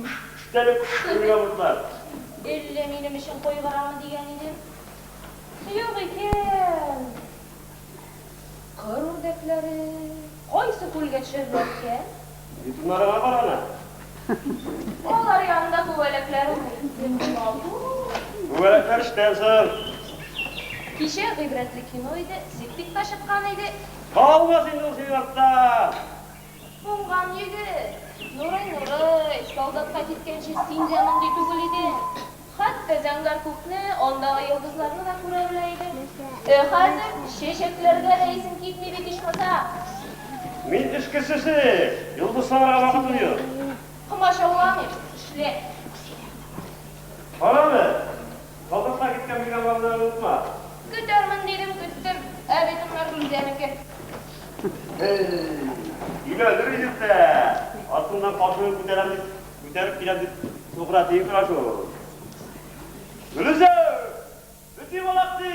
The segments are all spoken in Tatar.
Үч, үчтәлек, кыямәтләр. Элле минем өчен кайгырамы дигән идем. Юк икән. Кыр үрдәкләре кайсы күлгә төшәрләр икән? Битумнарыңа кара әле. Алар янында күбәләкләр уйный. Нинди матур! Күбәләкләр эштән соң. Кичә гыйбрәтле кино иде, септик та чыккан иде. Калмас инде ул синең артта! Уңган егет! Нурый, Нурый, солдатка киткәнче син дә мондый түгел идең. Хәтта зәңгәр күкне, андагы йолдызларны да күрә белә идең. Ә хәзер чәчәкләргә дә исең китми бит, ичмаса! Мин эш кешесе, йолдызларга вакытым юк. Комачауламыйм, эшлә. Кара әле! Калдырса киткән биналарны онытма. Көтәрмен дидем, көттем. Ә бит унлар Һей! Өйгә өлгер идек тә, артыңнан каршыны күтәрәм дип, күтәреп киләм дип сугыра тиеп тора шул. Гөлүсә! Бөти балакчи!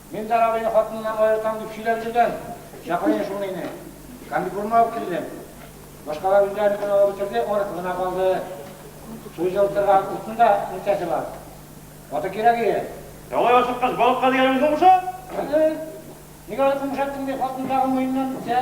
Миндар абыйны хатыныннан аертам дип сөйләп йөргән чаклыең шул мине. Комбикормны алып килдем. Башкалар үзләренекен алып бетерде, аныкы гына калды. Су җылытырга утның да нәрсәсе бар. Вата кирәк ие. Алай ашыккач, балыкка дигәнеңне комшат! Ник аны комшаттың? дип, хатын тагын муеныннан үпте.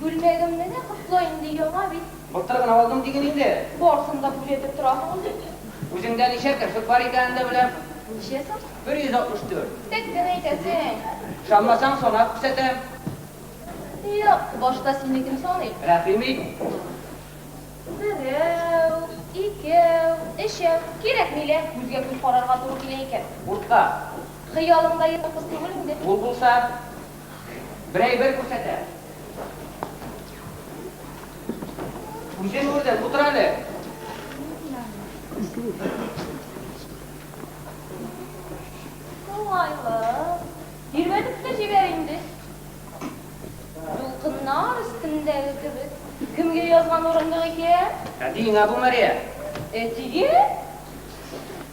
Күлмәгемнене котла инде, яңа бит. Былтыр гына алдым диген инде. Барсын да күзәтеп торасың үзең. Үзеңдә ничә керфек бар икәнен дә беләм. Ничә соң? 164. Тек кенә әйтәсең. Ышанмасаң, санап күрсәтәм. Юк, башта синекен саныйм. Рәхим ит. Берәү, икәү, өчәү. Кирәкми лә, күзгә күз карарга туры килә икән. Урта. Хыялың да ерак кыз түгел инде. Ул булса. Бер әйбер күрсәтә. Үзен күрдем, утыр әле. Уңайлы. Тирбәтеп тә җибәр инде. Дулкыннар өстендәге кебек. Кемгә язган урындык икән? Әтиеңә бу, Мария. Әтигә?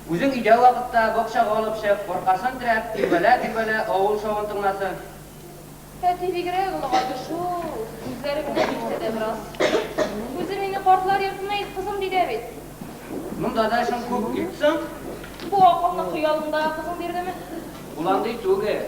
Үзең өйдә вакытта, бакчага алып чык, аркасын терәп, тирбәлә-тирбәлә, авыл шавын тыңласын. Әти бигрәк олыгайды шул, үзләре генә димсә дә бераз. Үзе мине картлар йортына илт, кызым, ди дә бит. Монда да эшең күп бит соң? Бу акылны хыялыңдагы кызың бирдеме? Ул андый түгел.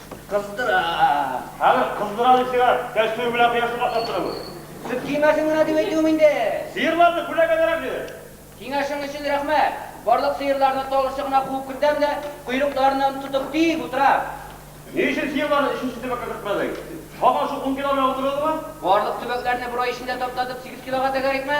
Кыздыра! Хәзер кыздыра дип сиңа кәчтүм белән кояшны катнаштырам мин! Сөт кимәсен генә дип әйтүем инде! Сыерларны күләгәләрәк бир! Киңәшең өчен рәхмәт! Барлык сыерларны тал очына куып кертәм дә, койрыкларыннан тотып тик утырам! Ни өчен сыерларны өченче төбәккә кертмәдең? Һаман шул ун кило белән утырдыңмы? Барлык төбәкләрне бер ай эчендә таптатып сигез килога тәгәрәйтмә!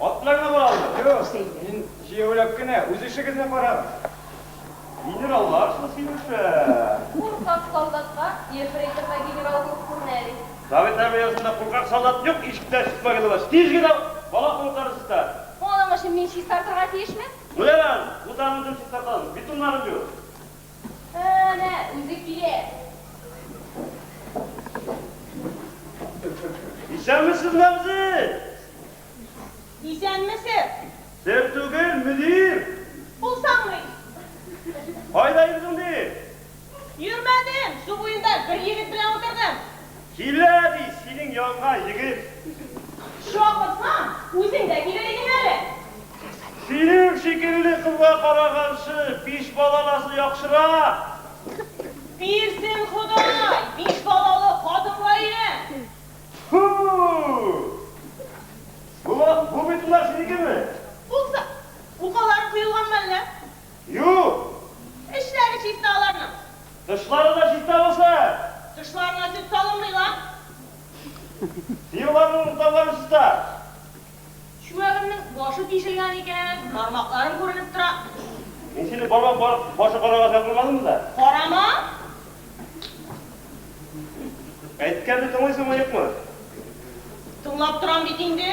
Атларны боралар. Юк, мин җәяүләп кенә. Үз эшегезне карагыз. Генераллар шул синеша. Куркак солдатка ефрейторга генерал булып күренә әле. Совет армиясендә куркак солдат юк, ишектән чыкма генә лач. Тиз генә бала куркарыз да. Моның өчен мин чистартырга тиешме? Ну, ярар, бутагын үзем чистартам, битумнарым юк. Әнә, үзе килә. Исәнмесез, Мәгъзи! Исәнмесез! Сез түгел, мөдир! Булсаңмый! Кайда йөрдең ди? Йөрмәдем, су буенда бер егет белән утырдым. Килә, ди, синең янга егет үзен. Чакырсаң, үзең дә килер идең әле. Синең шикелле кызга караганчы, биш балаласы яхшырак. Бирсен Ходай, биш балалы хатынга өйлән. Фу! Бу бит улар синекеме? Булса. Укалары коелганмы әллә? Юк! Эчләре чиста аларның. Тышлары да чиста булсын! Тышларына сөт салынмый ла. Сыерларның урталары чиста. Чүәгемнең башы тишелгән икән, бармакларым күренеп тора. Мин сине бармак бар, башы карарга чакырмадыммы да? Карама! Әйткәнне тыңлыйсыңмы, юкмы? Тыңлап торам бит инде.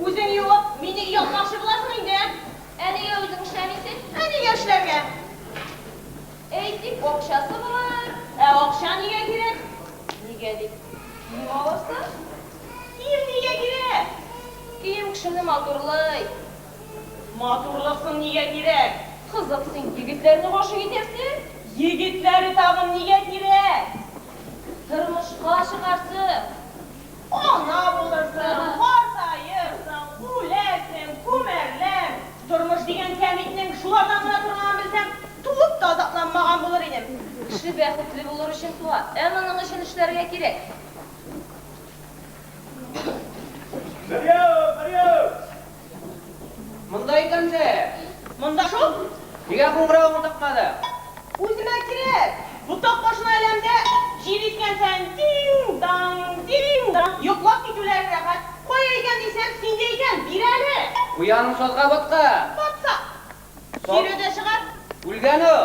Үзең юып, мине юатмакчы буласың инде? Ә нигә үзең эшләмисең? Ә нигә эшләргә? Әйтик, акчасы бар. Ә акча нигә кирәк? Нигә дип, кием алырсың. Кием нигә кирәк? Кием кешене матурлый. Матурлык соң нигә кирәк? Кызык, син егетләрне гашыйк итәсең? Егетләре тагын нигә кирәк? Тормышка чыгарсың. Ана булырсың, картаеп, үләсең, күмәрләр. Тормыш дигән кәмитнең шулардан гына торганын белсәм, туып та азапланмаган булыр идем. Кеше бәхетле булыр өчен туа, ә моның өчен эшләргә кирәк. Берьяу, берьяу! Монда икәнсез! Монда шул! Нигә куңгыравыгыз тыкмады? Үземә кирәк! Ботак башына эләмдә, җил искән саен тиң-даң, тиң-даң! Йоклап китүләре рәхәт. Кая икән дисәм, синдә икән, бир әле! Куяның сазга баткан. Батса. Кире дә чыгар. Үлгән ул.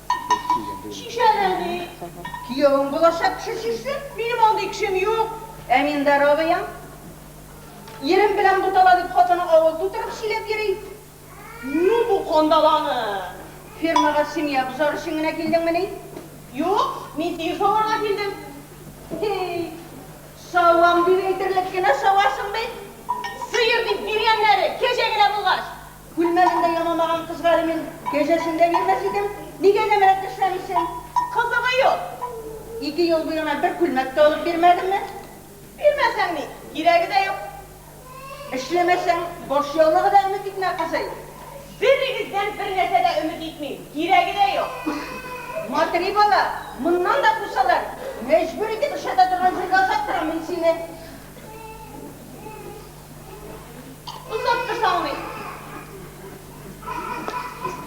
Чишән әби, киявең булачак кеше чишсен, минем андый кешем юк. Әминдар абыең, ирем белән бутала дип хатыны авыл тутырып сөйләп йөри. Ну бу кандаланы! Фермага семья бозар өчен генә килдеңмени? Юк, мин сине саварга килдем. Һей, савам дип әйтерлек кенә савасың бит. Сыер дип биргәннәре кәҗә генә булгач, Күлмәгендә янамаган кызга әле мин кәҗәсен дә бирмәс идем. Нигә нәмәрәт эшләмисең? Кызыгы юк. Ике ел буе аңа бер күлмәк тә алып бирмәдеңме? Бирмәсәң ни, кирәге дә юк. Эшләмәсәң, баш яулыгы да өмет итмә, кызый. Берегездән бер нәрсә дә өмет итмим, кирәге дә юк. Матри бала, моннан да кусалар, мәҗбүр итеп эшләтә торган җиргә озатырам мин сине. Озак та салмыйк.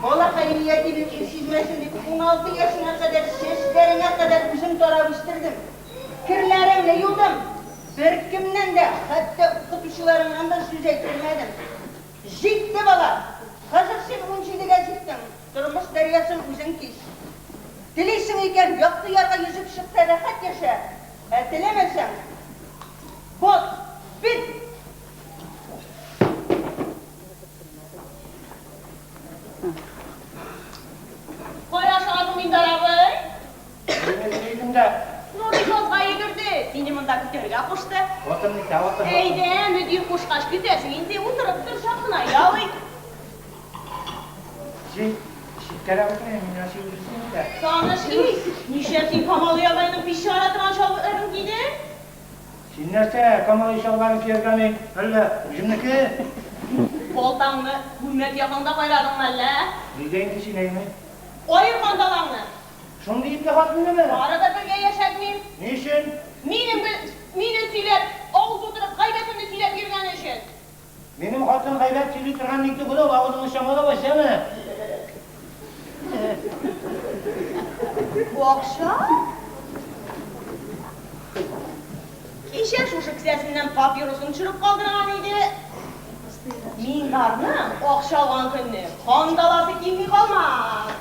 Балакаем ятимлек ир сизмәсен дип, уналты яшемә кадәр чәчләреңә кадәр үзем тарап үстердем. Керләреңне юдым. Беркемнән дә, хәтта укытучыларыңнан да сүз әйттермәдем. Җитте, бала! Хәзер син унҗидегә җиттең, тормыш дәрьясын үзең кич. Телисең икән, якты ярга йөзеп чык та рәхәт яшә. Ә теләмәсәң, бот, бит! Кая шуасың, Миндар абый? Мине ни дидең дә? Нурый язга йөгерде, сине монда көтәргә кушты. Отыр дисә, отыр. Әйдә, мөдир кушкач, көтәсең инде, утырып тор, чатына ял ит. Син читкәрәк үтмә, мин Расил Ильичны көтәм. Таныш ис! Нишләп син Камалый абыйның пич чыгара торган чалбытларын кидең? Син нәрсә, Камалый чалбарын кияргә мин әллә үземнеке? Балтаңны күлмәк якаңда кайрадыңмы әллә? Нигә инде сөйләйме? Аер кандалаңны! Шундый ипле хатыннымы? Бары да бергә яшәтмим. Ни өчен? Минем мине сөйләп, авыз тутырып, гайбәтемне сөйләп йөргәне өчен. Минем хатын гайбәт сөйли торган ни түгел ул, авызыңны чамала вәҗәмә. Бу акча? Кичә шушы кесәсеннән папиросын төшереп калдырган иде. Мингарның акча алган көнне кан даласы килми калмас.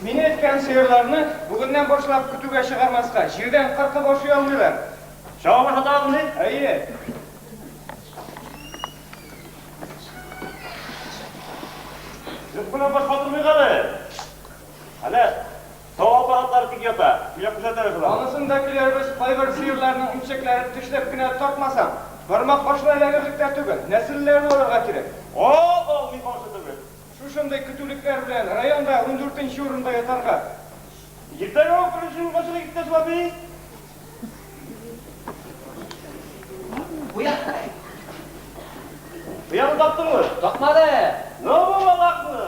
Мине эткән сыерларны бүгеннән башлап көтүгә чыгармаска, җирдән кыркып ашый алмыйлар. Чабып ашата алмый? Әйе. Юк белән баш катырмыйк әле. Әле Тау аппаратлары тик ята, килә күрсәтәбез болар. Анысын да көләрбез, кайбер сыерларның имчәкләрен тешләп кенә тартмасаң, бармак башына эләгерлек тә түгел, нәселлеләр буларга кирәк. О-о-о, ни каршы түгел. Шушындый көтүлекләр белән районда ундүртенче урында ятарга. Иртәгә үк беренче юлга чыгыйк, иптәш Лапис. Бу якта. Ояны таптыңмы? Тапмады. Ну, бу балакны!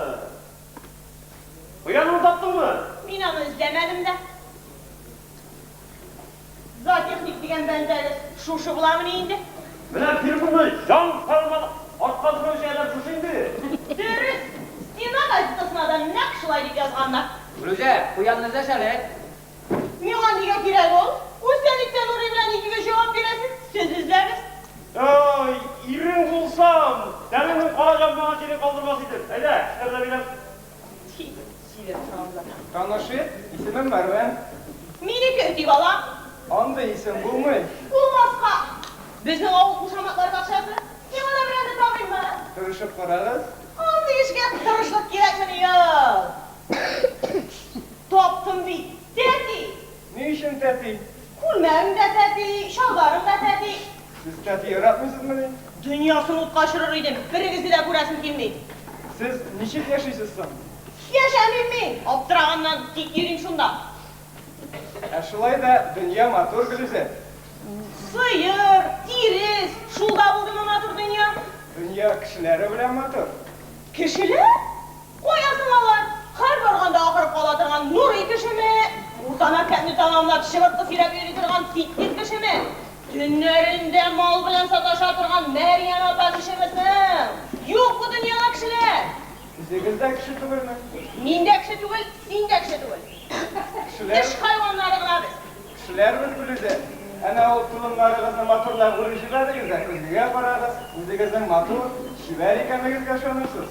Ояңны таптыңмы? Мин аны эзләмәдем дә. Зоотехник дигән бәндәгез шушы буламыни инде? Менә фирманы җан салман артка сөргәнче әйбәт шушы инде. Дөрес, Стена газетасына да нәкъ шулай дип язганнар. Гөлүзә, куянны эзләсәләр. Миңа нигә кирәк ул? Үз Сәлиттә Нурый белән икегез җавап бирәсез, сез эзләгез. Ай, ирең булсам, тәнеңнең кара җамбыгына тире калдырмас идем. Әйдә, эшләр дә бирәм. Тик сөйләп торам да. Танышыйк, исемем Мәрвән. Минеке Өти бала. Андый исем булмый. Булмаска! Безнең авыл кушаматлар бакчасы. Миңа да берәрне табыйммы? Тырышып карагыз. Андый эшкә тырышлык кирәкмени ул. Таптым бит, тәти! Ни өчен тәти? Күлмәгең дә тәти, чалбарың да тәти. Сез тәти яратмыйсызмыни? Дөньясын утка очырыр идем, берегезне дә күрәсем килми. Сез ничек яшисез соң? Яшәмим мин, аптыраганнан, тик йөрим шунда. Ә шулай да дөнья матур, Гөлүзәт. Сыер, тирес, шул да булдымы матур дөнья? Дөнья кешеләре белән матур. Кешеләр? Кая соң алар? Һәр барганда ахырып кала торган Нурый кешеме? Урта мәктәпне тәмамлап, чыбыркы сөйрәп йөри торган Фитнес кешеме? Төннәрендә мал белән саташа торган Мәрьям апа кешеме соң? Юк бу дөньяда кешеләр! Үзегез дә кеше түгелме? Мин дә кеше түгел, син дә кеше түгел. Теш хайваннары гына без. Кешеләрбез без дә. Әнә ул толымнарыгызны матурлап үреп җибәрегез дә көзгегә карагыз, үзегезнең матур, чибәр икәнегезгә ышанырсыз.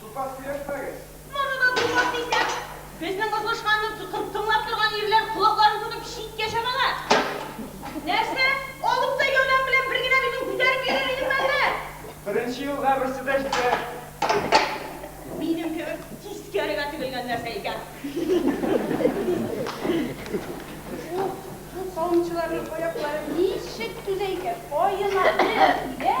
Тупас сөйләшмәгез! Моны да тупас дисәң! Безнең озгышканны тыңлап торган ирләр колакларын тотып читкә чабалар! Нәрсә? Алып та яулау белән бер генә битен күтәреп йөрер идеме әллә? Беренче юлга берсе дә җитәр! Минем кебек тискәрегә тегелгән нәрсә икән! Бу савымчыларның аяклары ничек түзә икән? Аена бер тибә!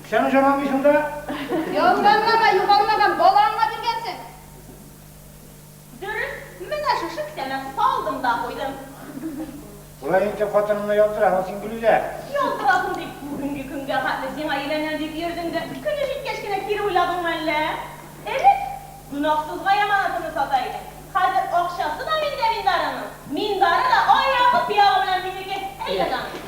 Сән җырламыйсың да. Ялганга да югалмаган балаңа биргәнсең. Дөрес, менә шушы кесәмә салдым да куйдым. Болай итеп хатыныңны ялтыраһың син, Гөлүзә. Ялтыраһың дип, бүгенге көнгә хәтле сиңа өйләнәм дип йөрдең дә, көне җиткәч кенә кире уйладыңмы әллә? Элек гөнаһсызга яманатыңны сата идең, хәзер акчасы да миндә миндарының, миндары да аягы-пыягы белән минеке, әйдә, Данил.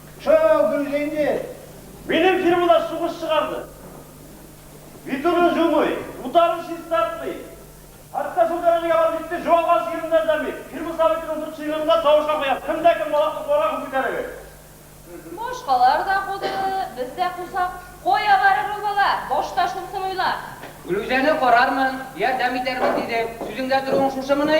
Чара Гөлзинди минем фирмада сугыш чыгарды. Витурин җумый, утарым чистартмый. Хәтта шул дәрәҗәгә барып җитте, җуалган сыерымны әзерләмим. Фирма советының дүрт членын да тавышка куям, кем дә кем балакны куарга кул күтәрегез. Башкалар да куды, без дә кусак. Кая барыр ул бала? Башта шунысын уйла. Гөлүзәне карармын, ярдәм итәрмен, диде. Сүзеңдә торуың шушымыни?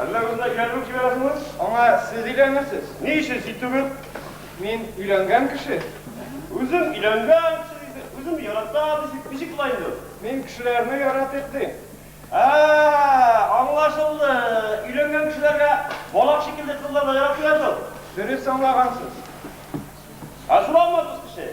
Әллә үзенә кияр булып җибәрәсеңме? Аңа сез өйләнерсез. Ни өчен син түгел? Мин өйләнгән кеше. Үзем өйләнгән кеше дисең, үземне яратам дисең, ничек була инде ул? Мин кешеләрне яратыйк дим. Ә-ә-ә, аңлашылды, өйләнгән кешеләргә балак шикелле кызлар да яратмый ятып. Дөрес аңлагансыз. Ачуланма, дус кеше.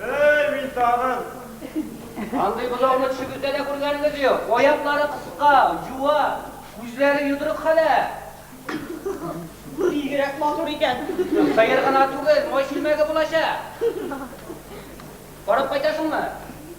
Эй, мин тагын! Андый бозауны төшегездә дә күргәнегез юк. Аяклары кыска, юа, күзләре йодрык хәлә. Бигрәк матур икән. Сыер гына түгел, май чүлмәге булачак. Карап кайтасыңмы?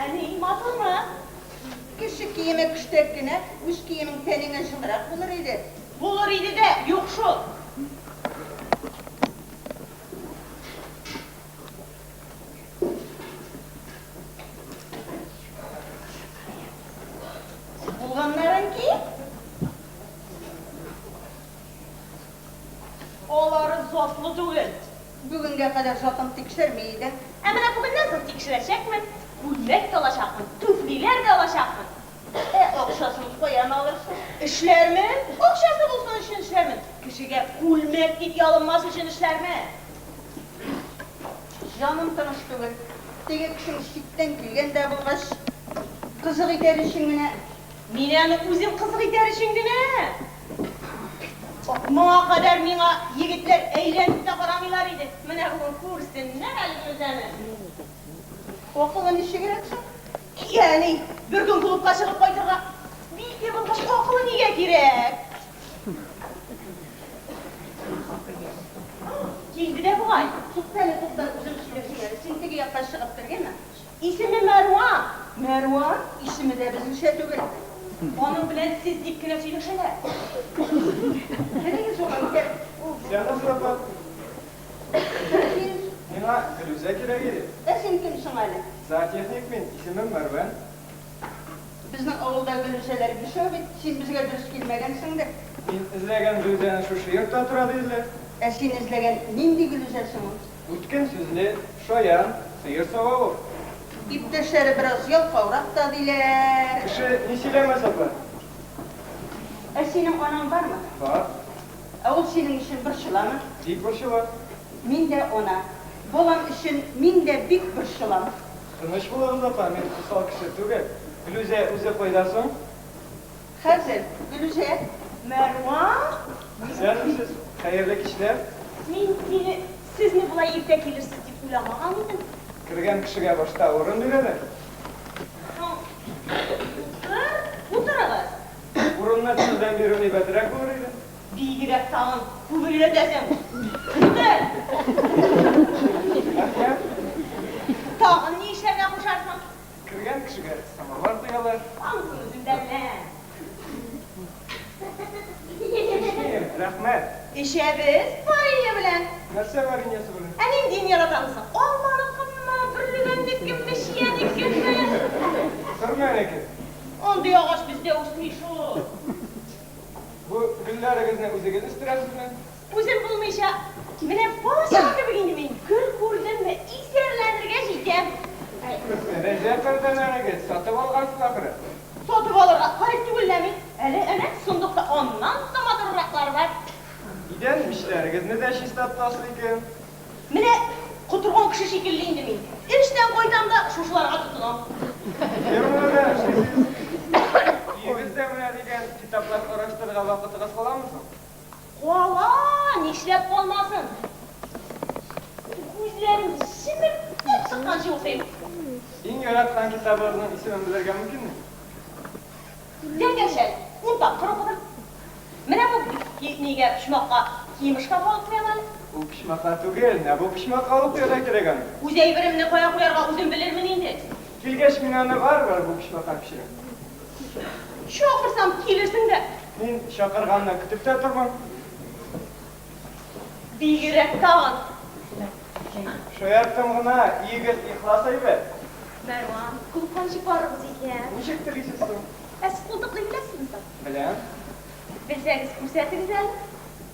Әни, матурмы? Кеше киеме көчтәк кенә, үз киемең тәнеңә җылырак булыр иде. Булыр иде дә, юк шул. Бүгенгә кадәр затын тикшерми идем. Ә менә бүгеннән соң тикшерәчәкмен. Күлмәк тә алачакмын, түфлиләр дә алачакмын. Ә акчасын каян алырсың? Эшләрмен. Акчасы булсын өчен эшләрмен. Кешегә күлмәк дип ялынмас өчен эшләрмен. Җаным тыныч түгел. Теге кешең читтән килгән дә булгач, кызык итәр өчен генә. Мин аны үзем кызык итәр өчен генә! Моңа кадәр миңа егетләр әйләнеп тә карамыйлар иде, менә бүген күрсеннәр әле Фирүзәне. Акылы ничегрәк соң? Ягъни, бер көн клубка чыгып кайтырга бик егылгач, акылы нигә кирәк? Килде дә бугай. Туктале, туктале, үзем сөйләшим әле. Син теге якка чыгып кергәнме? Исеме Мәрва! Мәрва исеме дә безнеңчә түгел. Аның белән сез дип кенә сөйләшәләр. Керегез урамга, кер. Син кыз юкмы? Син? Миңа Фирүзә кирәк иде. Ә син кем соң әле? Зоотехник мин, исемем Мәрвән. Безнең авылда Гөлүзәләр бишәү бит. Син безгә дөрес килмәгәнсеңдер. Мин эзләгән Гөлүзәне шушы йортта тора диделәр. Ә син эзләгән нинди Гөлүзә соң ул? Үткен сүзне шаян сыер сава ул. Иптәшләре бераз ялкаурак та, диләр. Кеше ни сөйләмәс, апа? Ә синең анаң бармы? Бар. Ә ул синең өчен борчыламы? Бик борчыла. Мин дә ана. Балам өчен мин дә бик борчылам. Тыныч булыгыз, апа, мин усал кеше түгел. Флүзә үзе кайда соң? Хәзер, Гөлүзә, Мәрван. Исәнмесез, хәерле кичләр. Мин, мине, сезне болай иртә килерсез дип уйламаган идем. Кергән кешегә башта урын бирәләр. Утыр, утырыгыз. Урынны сездән бирү әйбәтрәк булыр иде. Бигрәк тагын күбелрәтәсең. Утыр. Рәхмәт. Тагын ни эшләргә кушарсың? Кергән кешегә самовар куялар. Ансын үзендә белә. Эчмим, рәхмәт. Эчәбез варенье белән. Нәрсә вареньесы белән? Ә ниндиен яратасыз соң? Алманыкымы, бөрлегәннекеме, чиянекеме? Сөрмәнеке. Андый агач бездә үсми шул. Бу гөлләрегезне үзегез үстерәсезме? Үзем булмыйча, менә бала чага кебек инде мин, гөл күрдемме, исәрләнергә җитәм. Рәҗәп әңгәмәгез сатып алгансыз ахры? Сатып алырга гарип түгел лә мин. Әле әнә сондыкта аннан да матуррыраклары бар. Идән мичләрегезне дә чиста тотасыз икән. Менә котырган кеше шикелле инде мин. Эштән кайтам да шушыларга тотынам. Фермада да эшлисез. Өегез дә менә дигән китаплар караштырырга вакытыгыз каламы соң? Кала, нишләп калмасын? Күзләрем чемердәп чыкканчы укыйм. Иң яраткан китабыгызның исемен белергә мөмкинме? Тәңгәшә, ун тапкыр укыдым. Менә бу нигә, почмакка, киемышка калып куям әле. Ул почмакка түгел, менә бу почмакка алып куярга кирәк аны. Үз әйберемне кая куярга үзем белермен инде. Килгәч, мин аны барыбер бу почмакка күчерәм. Чакырсам, килерсең дә. Мин чакырганны көтеп тә тормыйм. Бигрәк тагын. Шаярттым гына, егет ихлас әйбәт. Мәрван, култан чыгарыгыз икән. Ничек телисез соң? Ә сез култыкны беләсезме соң? Беләм. Белсәгез, күрсәтегез әле.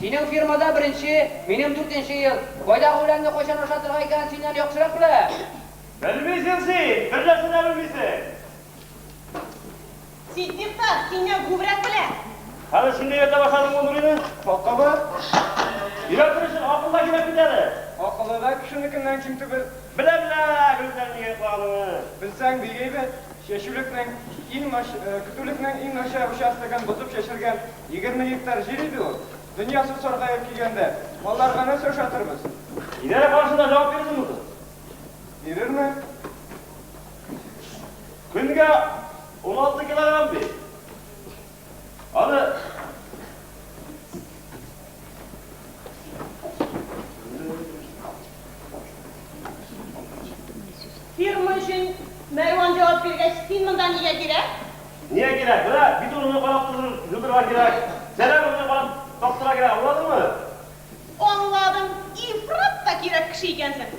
Синең фирмада беренче, минем дүртенче ел. Кайдагы үләнне кайчан ашатырга икәнен синнән яхшырак беләм. Белмисең син, бер нәрсә дә белмисең. Ситдыйк та синнән күбрәк белә. Хәзер син дә өйрәтә башладыңмы ул Нурины? Акылы? Өйрәтер өчен акыл да кирәк бит әле. Акылы да кешенекеннән ким түгел. Белә-белә гел үзләрен игә йоклаганыңны. Белсәң, бик әйбәт. Чәчүлекнең иң нач көтүлекнең иң начар участогын бозып чәчелгән егерме гектар җир иде ул. Дөнья су саргаеп килгәндә, малларга нәрсә ошатырбыз? Идарә карашында җавап бирерсеңме соң? Бирермен. Көнгә уналты килограмм бит. Аны Фирма өчен Мәрван җавап биргәч, син монда нигә кирәк? Нигә кирәк? Менә бит урынны карап торырга кирәк. Сәлам урынны карап таптырырга кирәк, аңладыңмы? Аңладым, ифрат та кирәк кеше икәнсең.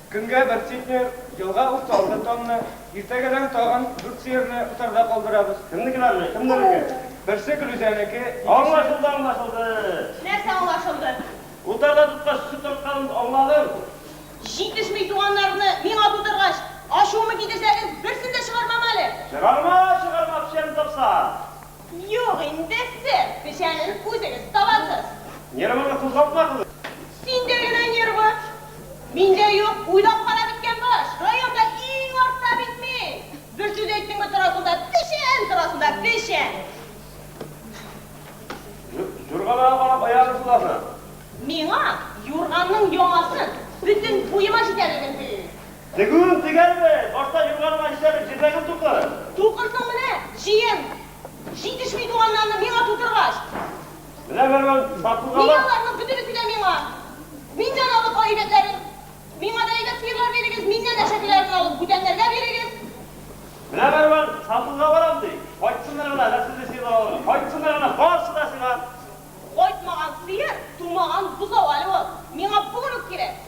Көнгә бер центнер, елга утта алты тонна, иртәгәдән тагын дүрт сыерны утарда калдырабыз. Кемнекеләрне? Кемнәрнеке? Берсе Гөлүзәнеке, икенче. Аңлашылды, аңлашылды. Нәрсә аңлашылды? Утарда тоткач сөт тартканын аңладым. Җитешми туганнарны миңа тутыргач, ачуымы китерсәгез, берсен дә чыгармам әле. Чыгарма, чыгарма, печәнен тапсаң. Юк инде, сэр, печәнен үзегез табасыз. Нервымны кузгалтмадыгыз. Синдә генә нервы. Миндә юк, уйлап кара беткән баш. Районда иң артта бит мин. Бер сүз әйттеңме торасың да печән, торасың да печән. Юрганга карап аягын сулады. Миңа юрганның яңасын бөтен буема җитәрлеген сөйлиләр. Тегүен тегәрме? Башта юрганыма нишләтеп җирдәгем тукырын? Тукырсың менә, җиен! Җитешми туганнарны миңа тутыргач. Менә берүен сатуга бар. Мин аларның бөтенесе дә миңа. Миннән алып әйбәтләрен. Миңа да әйбәт сыерлар бирегез, миннән әшәкеләрен алып бүтәннәргә бирегез. Менә берүен сатуга барам, ди. Кайтсыннар гына, нәселле сыерлар алырга. Кайтсыннар гына, барсы да сиңа. Кайтмаган сыер, тумаган бозау әле ул. Миңа бүген үк кирәк.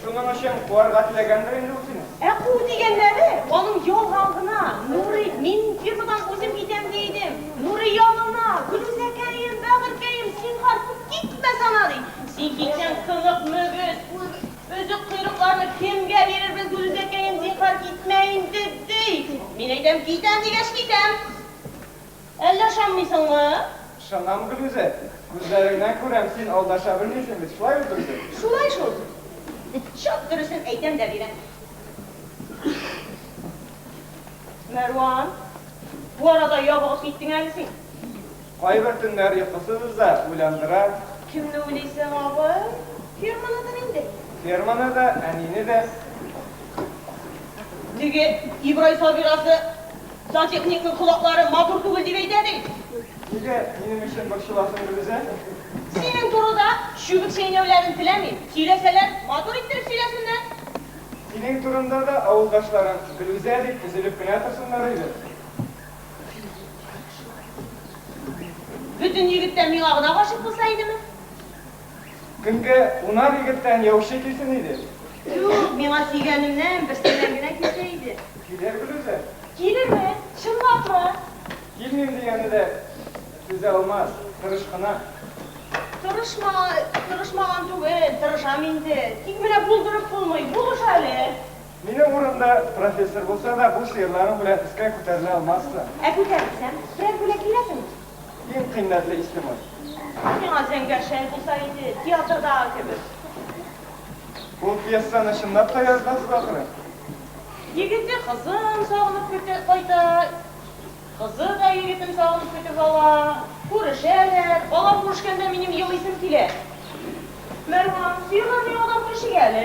Шуның өчен куарга теләгәндер инде ул сине? Ә куу дигәннәре, аның ялган гына, Нурый, мин фирмадан үзем китәм ди идем, Нурый янына, Гөлүзәкәем, бәгырькәем, син бар, китмә сана, ди. Син китсәң, сынык мөгез, өзек койрыкларны кемгә бирербез, Гөлүзәкәем, зинһар, китмә инде, ди. Мин әйтәм, китәм дигәч, китәм. Әллә ышанмыйсыңмы? Ышанам, Гөлүзә. Күзләреңнән күрәм, син алдаша белмисең бит, шулай бит, Гөлүзә? Шулай шул. Чак дөресен әйтәм дә бирәм. Мәрван, бу арада ябыгып киттең әле син. Кайбер төннәр йокысыз да уйландыра. Кемне уйлыйсың, абый? Ферманымы инде? Ферманы да, әнине дә. Теге Ибрай Сабирасы Сантехникның колаклары матур түгел дип әйтә бит. Нигә минем өчен борчыласың, Гөлүзә? Синең турыда чүбек чәйнәүләрен теләмим. Сөйләсәләр, матур иттереп сөйләсеннәр. Синең турында да авылдашларың Гөлүзә дип өзелеп кенә торсыннар иде. Бөтен егет тә миңа гына гашыйк булса идеме? Көнгә унар егеттән яучы килсен иде. Юк, миңа сөйгәнемнән берсеннән генә килсә иде. Килер берүзе. Килерме? Чынлапмы? Килмим дигәне дә түзә алмас, тырыш кына. Тырышма, тырышмаган түгел, тырышам инде. Тик менә булдырып булмый, булыш әле. Минем урында профессор булса да, бу сыерларың белән өскә күтәрелә алмассың. Ә күтәрелсәм, берәр бүләк бирәсеңме? Иң кыйммәтле исемең? Ул миңа зәңгәр шәл булса иде, театрдагы кебек. Ул пьесаны чынлап та яздыгыз, ахры? Егете кызын сагынып көтеп кайта, кызы да егетен сагынып көтеп ала. Күрешәләр. Алар күрешкәндә минем елыйсым килә. Мәрхүм, сөйләми адым кешегә әле.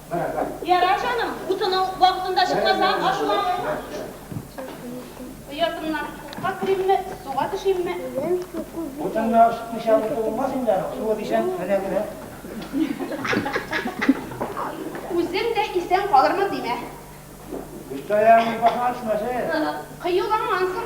Ярар, җаным, утыну вакытында чыкмасаң, ачуланмыйм. Оятымнан утка керимме, суга төшимме? Утыннан чыкмыйча утын булмас инде аның, суы дисәң, менә генә. Үзең дә исән калырмын димә. Өстәяң башыңа төшмәсен. Кыюлангансың.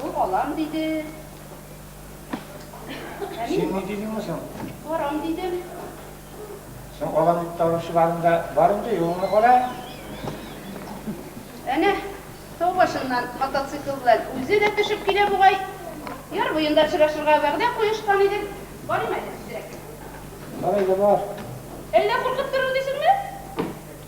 Бу алам диде. Ә мин Син ни дидеңме соң? барам дидем. Соң алам дип торучыларың да бар инде, юлыңны кара. Әнә, тау башыннан мотоцикл белән үзе дә төшеп килә бугай. Яр буенда очрашырга вәгъдә куешкан идек. Барыйм әле тизрәк. Бар әле, бар. Әллә куркып торыр дисеңме?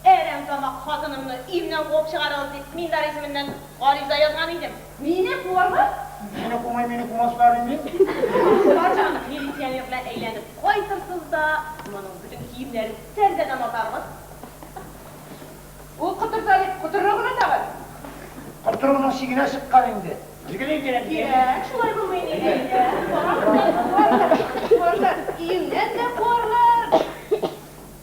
Әрәмтамак хатынымны өемнән куып чыгарыгыз дип, мин дә исеменнән гариза язган идем. Мине куарлар? Сине кумый, мине кумаслар инде. Бар чагыгыз милиционер белән әйләнеп кайтырсыз да, моның бөтен киемнәрен тәрәзәдән атарбыз. Ул котырта бит, котырыр гына тагын. Котыруның чигенә чыккан инде. Билгеле инде, әти. Кирәк, шулай булмый ни. Әйдә, барабыз әле, куарлар. Куарлар, өемнән дә куарлар.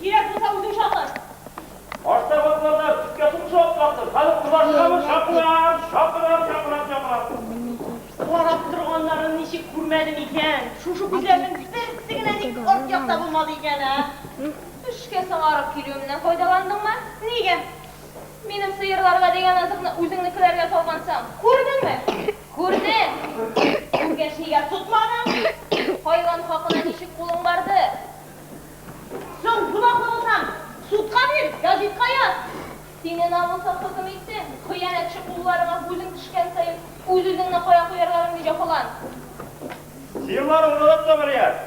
Кирәк булса үзең чакыр! Аштагы атлардан өскә сукыша атларсын! Хәзер кызлар чыгамы? Чакырам! Чакырам! Чакырам! Чакырам! Карап торганнарын ничек күрмәдем икән? Шушы күзләрнең берсе генә ник арт якта булмады икән, ә? Эшкә соңарып килүемнән файдаландыңмы? Нигә? Минем сыерларга дигән азыкны үзеңнекеләргә салгансың. Күрдеңме? Күрдең! Күргәч, нигә тотмадың? Хайван хакына ничек кулың барды? Соң, гөнаһлы булсаң, судка бир, гәзитка яз! Сине намуслы хөкем итсен, хыянәтче кулларыңа күзең төшкән саен, үз-үзеңне кая куярга белми җәфалан. Сыерлар уралып та барган.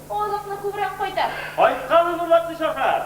Азыкны күбрәк кайтар. Кайтканын урлатмыйча хәл.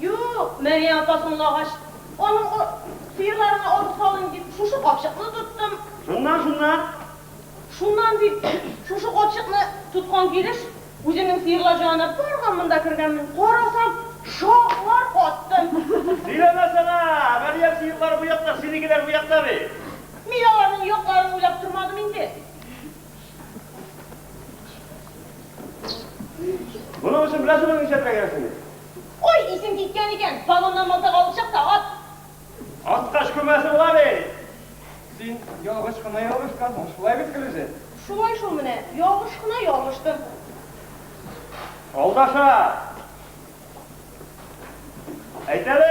Юк, Мәрия апа соңлагач, аның о, сыерларына ару салыйм дип, шушы капчыкны тоттым. Шуннан, шуннан? Шуннан дип, шушы капчыкны тоткан килеш, үземнең сыерлар җанына барган монда кергәнмен, карасам, шаклар каттым. Сөйләмәсәнә, Мәрия сыерлары бу якта, синекеләр бу якта бит. Мин аларның якларын уйлап тормадым инде. Моның өчен беләсеңме нишләтергә кирәксен? Ой, исең киткән икән, вагоннан мылтык алып чык та ат! Аткач күмәсе була бит! Син ялгыш кына ялгышкансың, шулай бит, Филүзә? Шулай шул менә, ялгыш кына ялгыштым. Алдаша! Әйт әле!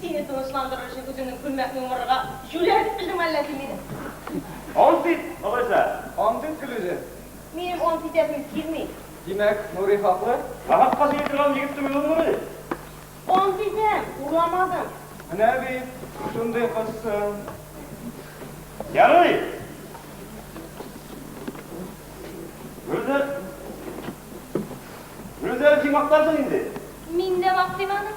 Сине тынычландырыр өчен үзеңнең күлмәкне умырырга җүләр итмешең мәллә син мине? Ант ит, алайса! Ант ит, Гөлүзем! Минем ант итәсем килми. Димәк, Нури хаклы? Нахакка сөйли торган егет түгел ул Нури! Ант итәм, урламадым! Менә бит, шундый кызсың! Ярый! Гөлүзем! Гөлүзем, син мактарсың инде! Мин дә мактыйм аны!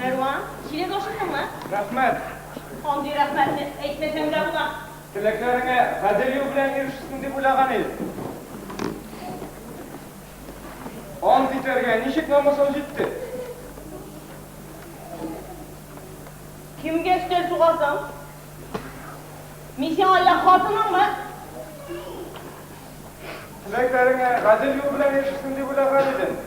Мәрва, син инде ашыктыңмы? Рәхмәт! Андый рәхмәтне әйтмәсәң дә була. Теләкләреңә гадел юл белән ирешерсең дип уйлаган идем. Ант итәргә ничек намусың җитте? Кемгә өстәл сугасың? Мин сиңа я хатыныңмы? Теләкләреңә гадел юл белән ирешерсең дип уйлаган идем.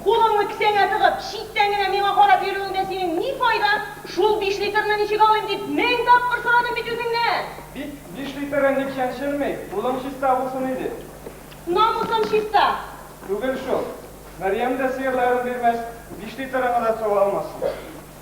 Кулыңны кесәңә тыгып, читтән генә миңа карап йөрүеңдә синең ни файдаң? Шул биш литрны ничек алыйм дип, мең тапкыр сорадым бит үзеңнән! Бит, биш литры ник чәнчелми? Кулың чиста булсын иде. Намусым чиста! Түгел шул. Мәрьям дә сыерларын бирмәс, биш литрыңны да су алмасын.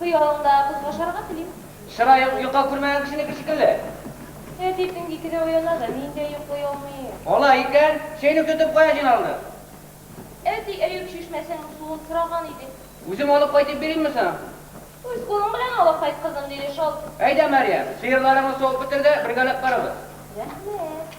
Хыялыңда кызга ашарга телим. Чыраең йокы күрмәгән кешенеке шикелле. Әти төнге икедә уяна да, мин дә йоклый алмыйм. Алай икән, чәйнек тотып кая җыйналдың? Әти, Әюп чишмәсенең суын сораган идең. Үзем алып кайтып биримме соң? Үз кулың белән алып кайт, кызым, диде шалт. Әйдә, Мәрьям, сыерларыңны суып бетер дә, бергәләп карабыз. Рәхмәт.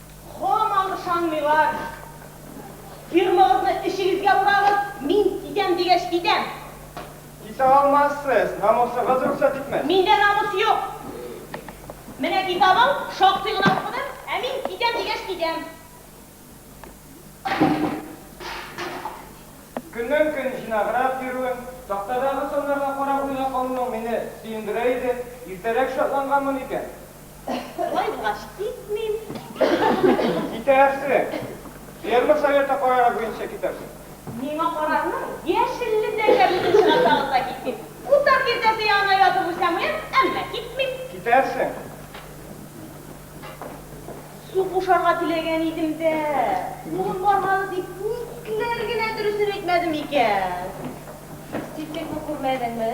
Һаман ышанмыйлар. Фирмагызны эчегезгә урагыз, мин китәм дигәч китәм. Китә алмассыз, намусыгыз рөхсәт итмәс. Миндә намус юк. Менә китабың, шактый гына укыдым, ә мин китәм дигәч китәм. Көннән-көн җыйнаграк йөрүем, тактадагы саннарга карап уйга калуым мине сөендерә иде. Иртәрәк шатланганмын икән. Болай булгач, китмим. Китәрсең. Ферма советы карары буенча китәрсең. Миңа карарның яшелледәге бүген чыгачагын да китмим. Утар киртәсе янына ятып үлсәм үләм, әмма китмим. Китәрсең. Су кушарга теләгән идем дә, кулым бармады дип, никләр генә дөресен әйтмәдем икән. Син тик бу күрмәдеңме?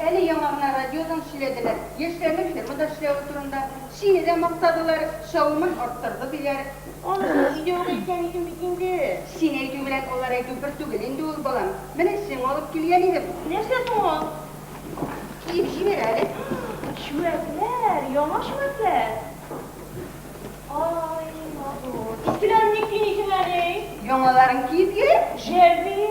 Әле яңа гына радиодан сөйләделәр, яшьләрнең фермада эшләве турында. Сине дә мактадылар, чавымын арттырды, диләр. Анысы өйдә үк әйткән идем бит инде. Син әйтү белән алар әйтү бер түгел инде ул, балам. Менә сиңа алып килгән идем. Нәрсә соң ул? Киеп җибәр әле. Чүәкләр, яңа чүәкләр. Ай, матур. Искеләрен ник кимисең әле? Яңаларын киеп йөр. Җәлби.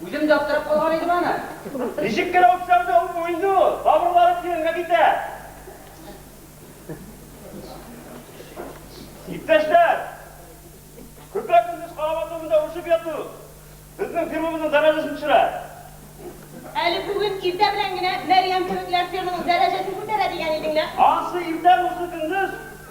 Үзем дә аптырап калган идем аны. Ничек кенә үпсәм дә үпми инде ул, тамырлары тирәнгә китә. Иптәшләр! Көпә-көндез карават урынында үрчеп яту безнең фирмабызның дәрәҗәсен төшерә. Әле бүген иртә белән генә Мәрьям кебекләр фирманың дәрәҗәсен күтәрә дигән идең лә. Ансы иртә, монсы көндез.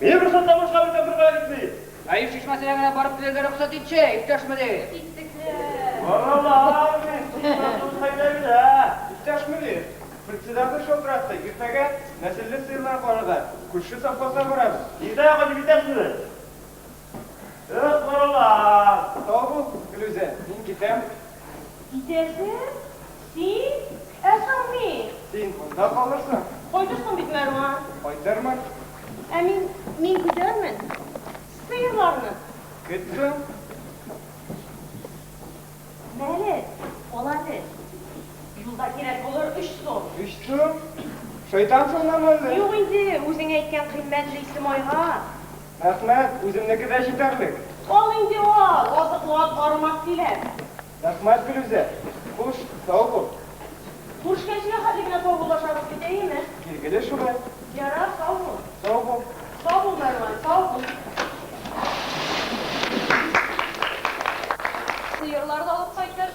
Мин рөхсәт табышка бит Африкага китми! Наил чишмәсенә генә барып килергә рөхсәт итче, иптәш мөдир! Итекләр! Баралар бит, сукмаксыз кайда генә, ә? Иптәш мөдир, председатель шалтыратты, иртәгә нәселле сыерлар карарга күрше совхозга барабыз. Иртәгә кайтып җитәсезме? Ысмырлар! Тау бу, Гөлүзә, мин китәм. Китәсең? Син? Ә соң мин? Син монда калырсың. Кайтырсың бит, Мәрван. Кайтырмын. Ә мин, мин көтәрмен. Сыерларны. Көт соң. Мәле, ал әле. Юлда кирәк булыр өч сум. Өч сум? Шайтансыңмы әллә? Юк инде, үзең әйткән кыйммәтле исем айга. Рәхмәт, үземнеке дә җитәрлек. Ал инде ал, азыклап бармак килә. Рәхмәт, Филүзә. Хуш, сау бул. Күрешкәнчегә хәтле генә саубуллашабыз бит, әйеме? Билгеле шулай. Ярар, сау бул. Сау бул. Сау бул, Мәрван, сау бул. Сыерлар да алып кайтыр.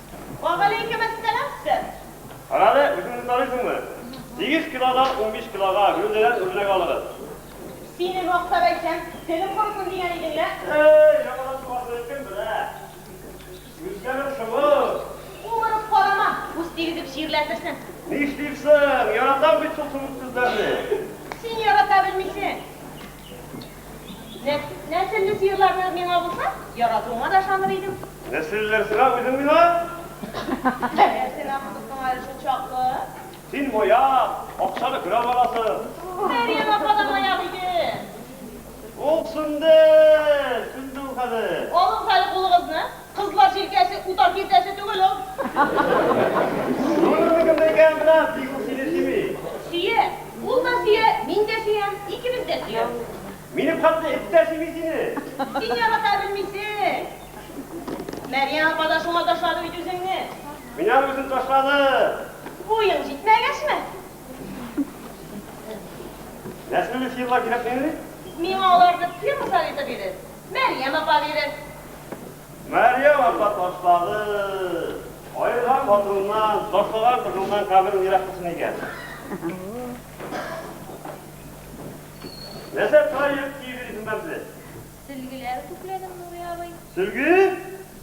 Вәгаләйкемәссәлам, сэр. Карале, үзеңне таныйсыңмы? Сигез килодан унбиш килога гәүдәдән үрнәк алыгыз. Сине мактап әйтсәм, телем корысын дигән идең лә. Әй, яңадан тугасыны кем белә? Үзгәрү шомлы. Умырып карама, күз тигезеп чирләтерсең. Нишлим соң, яратам бит шул сумык күзләрне. Син ярата белмисең. Нәселле сыерларны миңа булса, яратуыңа да ышаныр идем. Нәселлеләр сиңа, үзең миңа. Әгәр син аны тотсаң әле шул чаклы. Син маяк, акчаны көрәп аласың. Ә минем апа да маяк иде. Ул сүнде, сүнде ул хәзер. Алыгыз әле кулыгызны. Кызлар җилкәсе утар киртәсе түгел ул. Шуның нигезендә икән генә бик үк сине сөйми. Сөя. Ул да сөя, мин дә сөям, икебез дә сөябез. Минем хәтле эт тә сөйми сине. Син ярата белмисең. Мәрьям апа да шуңа ташлады бит үзеңне. Менә үзен ташлады. Буең җитмәгәчме? Нәсел фирма кирәкмени? Миңа аларны фирма советы бирер. Мәрьям апа бирер. Мәрьям апа ташлады. Аерган хатыныннан, ташлаган кызыннан каберең ерак булсын икән. Нәрсә тора йөреп киеп йөрисең бәмзә? Сөлгеләр күкләдем, Нурый абый. Сөлге?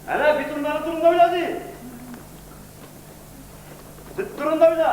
Әнә битумнары турында уйла ди. Сөт турында уйла.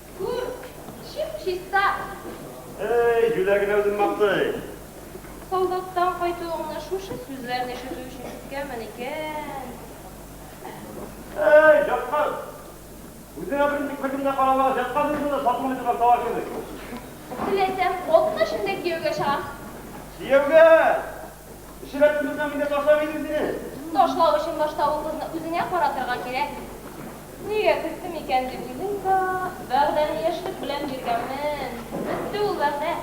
Күр, чип-чиста! Әй, Юлә генә үзен мактый. Солдаттан кайтуыңны шушы сүзләрне ишетү өчен көткәнмен икән. Әй, яткан! Үзеңә берничек беркем дә карамаган, яткан җиреңдә дә сатылмый торган товар кебек. Теләсәм, атна эчендә кияүгә чыгам. Кияүгә! Эчерә куйдырсам инде ташламый идем сине. Ташлау өчен башта ул кызны үзеңә каратырга кирәк. Нигә көттем икән дип уйлыйм да, вәгъдәне яшьлек белән биргәнмен. Бетте ул вәгъдә.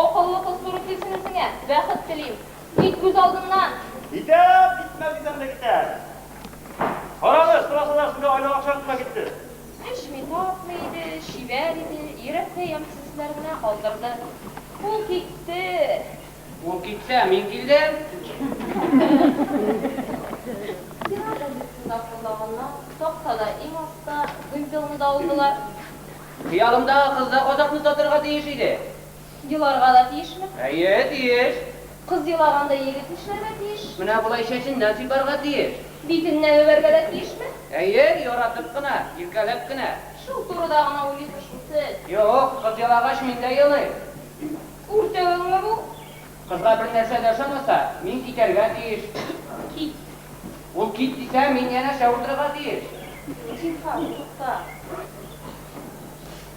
Акыллы кыз туры килсен үзеңә. Бәхет телим. Кит күз алдыннан! Китәм! Китмәс дисәм дә китәм. Карале, сорасалар, сезгә айлык акча тотына китте. Эчми, тартмый иде, чибәр иде, йөрәккә ямьсез сүзләр генә калдырды. Ул китте. Ул китсә, мин килдем! Сиңа газетында куллаганнар, тактада иң аста вымпелны да алдылар. Хыялымдагы кыз да казакны татырга тиеш иде. Еларга да тиешме? Әйе, тиеш! Кыз елаганда егет нишләргә тиеш? Менә болай чәченнән сыйпарга тиеш. Битеннән үбәргә дә тиешме? Әйе, яратып кына, иркәләп кенә. Шул турыда гына уйлыйсыз шул сез? Юк, кыз елагач мин дә елыйм. Үртәвеңме бу? Кызга бер нәрсә дә ошамаса, мин китәргә тиеш. Кит. Ул кит дисә, мин янәшә утырырга тиеш. Зинһар, тукта.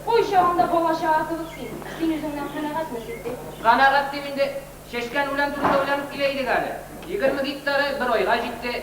Кой чагында бала-чага кебек син. Син үзеңнән канәгатьме, Ситдыйк? Канәгать дим инде. Чәчкән үлән турында уйланып килә идек әле. Егерме гектары бер айга җитте.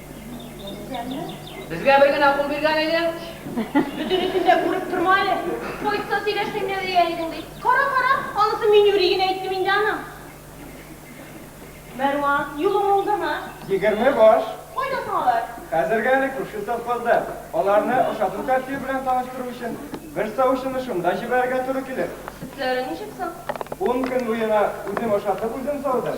Безгә бер генә кул биргән иде. Бөтенесен дә күреп торма әле. Поездда сөйләшсәң дә дия идең бит. Кара, кара, анысы Миңнури генә әйттем инде аны. Мәрван, юлың уңдымы? Егерме баш. Кайда соң алар? Хәзергә әле күрше совхозда. Аларны ашату тәртибе белән таныштыру өчен бер савучыны шунда җибәрергә туры килер. Сөтләре ничек соң? Ун көн буена үзем ашатып, үзем саудым.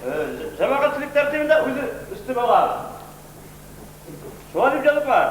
Җәмәгатьчелек тәртибендә үзе өстен ала. Шулай дип язып бар.